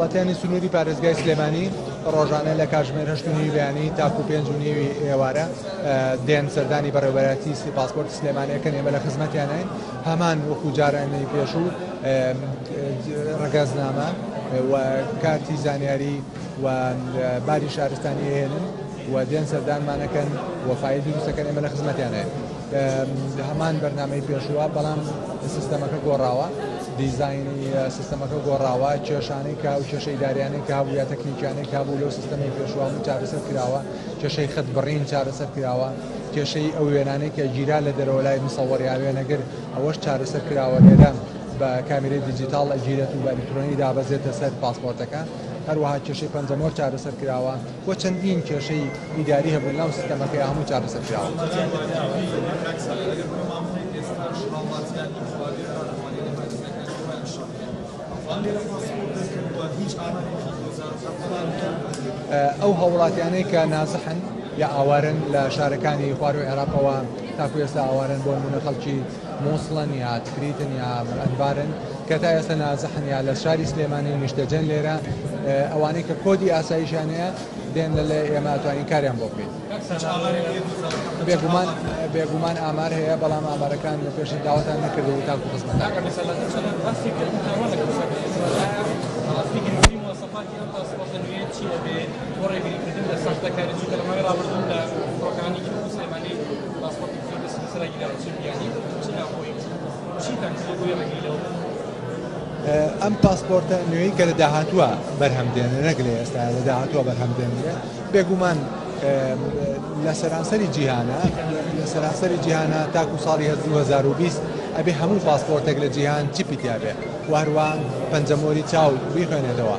هاوڵاتیانی سنووری پارێزگای سلێمانی ڕۆژانە لە کاژمێر هەشت و نیوی بەیانی تاکو پێنج و نیوی ئێوارە دێن سەردانی بەڕێوەبەرایەتی سی پاسپۆرت سلێمانەکەن ئێمە لە خزمەتیانین هەمان وەکو جارانی پێشوو ڕگەزنامە و کارتی زانیاری و باری شارستانی هێنن و دێن سەردانمانەکەن وەفای دروستەکەن ئێمە لە خزمەتیانەیە. هەمان بەرنامەی پێشووە بەڵام سیستەمەکە گۆڕاوە دیزایانی سیستەمەکە گۆڕاوە کێشانەی کا و کێشەی داریانەی کا بوو یا تەکنیکیانەی کا بوو لەو سیستەمی پێشوان چارەسەر کراوە کێشەی خەت بڕین چارەسەر کراوە کێشەی ئەو وێنانەی کە گیرا لە دەرەوە لای مسەوەڕیا وێنەگر ئەوەش چارەسەر کراوە لێرە بە کامیری دیجیتال ئەگیرێت و بە ئەلیکترۆنی دابەزێتە سەر پاسپۆرتەکە هەروەها کێشەی پەنجەمۆر چارەسەر کراوە و چەندین کێشەی ئیداری هەبوون ناو سیستەمەکەیا هەموو چارەسەر کراون. ئەو هاووڵاتیانەی کە نازحن یا ئاوارن لە شارەکانی خوارو عێراقەوە تاکو ئێستا ئاوارن بۆ نمونە خەڵکی موسڵن یا تکریتن یا ئەنبارن کە تا ئێستا نازحن یا لە شاری سلێمانی نیشتەجێن لێرە ئەوانەی کە کۆدی ئاسایشیان هەیە دێن لە لە ئێمە ئەتوانین کاریان بۆ بکەین بێگومان بێگومان ئامار هەیە بەڵام ئامارەکان لە پێش داواتان نەکردەوە تاکو خزمەتان چیە ئەم پاسپۆرتە نوێی کە لە داهاتووە بەرهەم دێنێ نەک لە ئێستا لە داهاتووە بەرهەم دێنرێت بێگومان لە سەرانسەری جیهانە لە سەرانسەری جیهانە تاکو ساڵی 2020 ئەبێ هەموو پاسپۆرتێک لە جیهان چیپی تیاابێ وهروان پەنجەمۆری چاو بیخوێنێتەوە.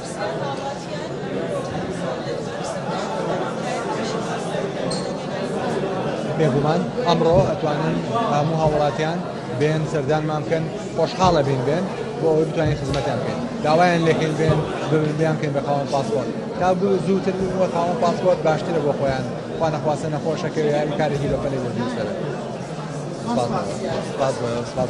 بێگومان ئەمڕۆ ئەتوانن هەموو هاوڵاتیان بێن سەردانمان بکەن خۆشحاڵە بین بێن بۆ ئەوەی بتوانین خزمەتیان بکەین داوایان لەکەین بێن ببیان بکەین بە خاوەن پاسپۆرت تا بوو زووتر بووە خاوەن پاسپۆرت باشترە بۆ خۆیان خوا نەخواستە نەخۆشەکەوێ یاری کارێکی بەپەلەی بۆ دووسەرە سپاس سپاس سپاس